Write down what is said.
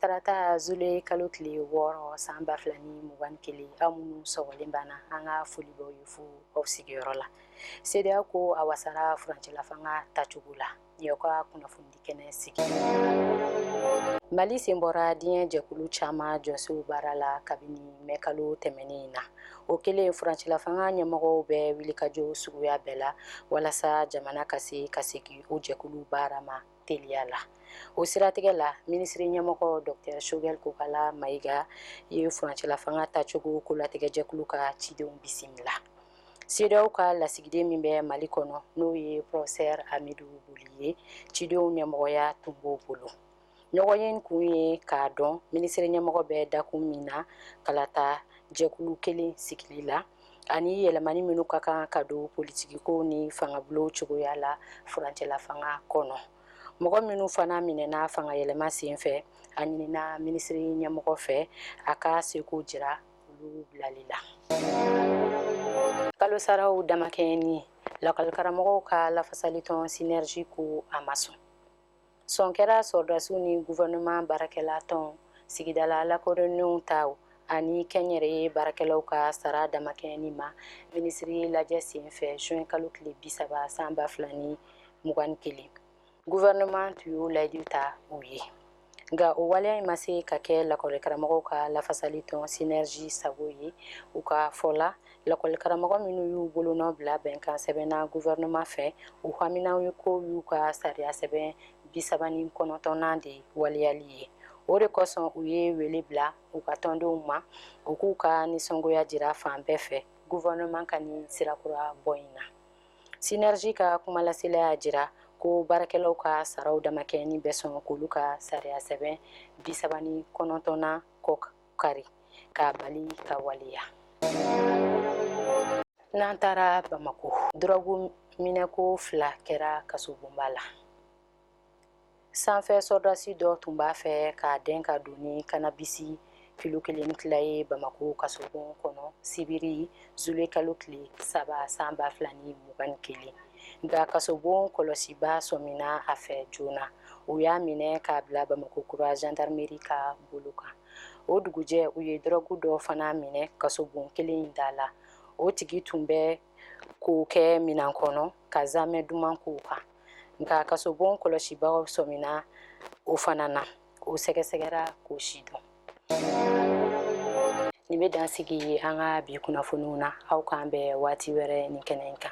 tarata zule kalo tile wɔɔrɔ san ba fila ni mugan ni kelen aw minnu sɔgɔlen b'an na an ka foli b'aw ye fo aw sigiyɔrɔ la CEDEAO ko a wasara furancɛlafanga tacogo la y'aw ka kunnafonidi kɛnɛ sigi mali sen bɔra diɲɛ jɛkulu caman jɔsenw baara la kabini mɛ kalo tɛmɛnen in na o kɛlen furancɛlafanga ɲɛmɔgɔw bɛ wulikajɔ suguya bɛɛ la walasa jamana ka se ka segin o jɛkulu baara ma teliya la o siratigɛ la minisiri ɲɛmɔgɔ docteur Choguel Kokalla Maïga ye furancɛla fanga tacogo kolatigɛ jɛkulu ka cidenw bisimila CEDEAO ka lasigiden min bɛ mali kɔnɔ n'o ye professeur Hamidou Boly ye cidenw ɲɛmɔgɔya tun b'o bolo ɲɔgɔnye kun ye k'a dɔn minisiri ɲɛmɔgɔ bɛ dakun min na kalata jɛkulu kelen sigili la ani yɛlɛmani minnu ka kan ka don politikiko ni fangabulon cogoya la furancɛla fanga kɔnɔ mɔgɔ minnu fana minɛna fanga yɛlɛma sen fɛ a ɲinina minisiri ɲɛmɔgɔ fɛ a ka seko jira olu bilali la kalosaraw damakɛɲɛni lakɔlikaramɔgɔw ka lafasalitɔn synergie ko a ma sɔn sɔn kɛra sɔrɔdasiw ni gouvernement baarakɛla tɔnw, sigidala lakodɔnnenw taw ani kɛnyɛrɛye baarakɛlaw ka sara damakɛɲɛni ma minisiri lajɛ senfɛ juin kalo tile bi saba san ba fila ni mugan ni kelen. Gouvernement tun y'o layidu ta u ye. Nka o waleya in ma se ka kɛ lakɔlikaramɔgɔw ka lafasali tɔn synergie sago ye, u ka fɔ la. lakɔlikaramɔgɔ minnu y'u bolo nɔ bila bɛnkan sɛbɛn na gouvernement fɛ, u haminanko y'u ka sariya sɛbɛn 39nan de waleyali ye. O de kosɔn u ye wele bila u ka tɔndenw ma, u k'u ka nisɔngoya jira fan bɛɛ fɛ gouvernement ka nin sira kura bɔ in na. Synergie ka kumalasela y'a jira ko baarakɛlaw ka saraw damakɛɲɛni bɛ sɔn k'olu ka sariya sɛbɛn 39nan kɔ kari k'a bali ka waleya n'an taara bamakɔ dɔrɔgu minɛko fila kɛra kasobonba la sanfɛ sɔrɔdasi dɔ tun b'a fɛ k'a dɛn ka don ni kanabisi kilo kelen tila ye bamakɔ kasobon kɔnɔ sibiri zule kalo tile saba san ba fila ni mugan ni kelen nka kasobon kɔlɔsibaa sɔmina a fɛ joona u y'a minɛ k'a bila bamakɔ kura gendarmerie ka bolo kan o dugujɛ u ye dɔrɔgu dɔ fana minɛ kasobon kelen in da la o tigi tun bɛ k'o kɛ minɛn kɔnɔ ka zaamɛ duman k'o kan nka kasobon kɔlɔsibaa sɔmina o fana na o sɛgɛsɛgɛra k'o sidɔn nin bɛ dan sigi an ka bi kunnafoniw na aw k'an bɛn waati wɛrɛ nin kɛnɛ in kan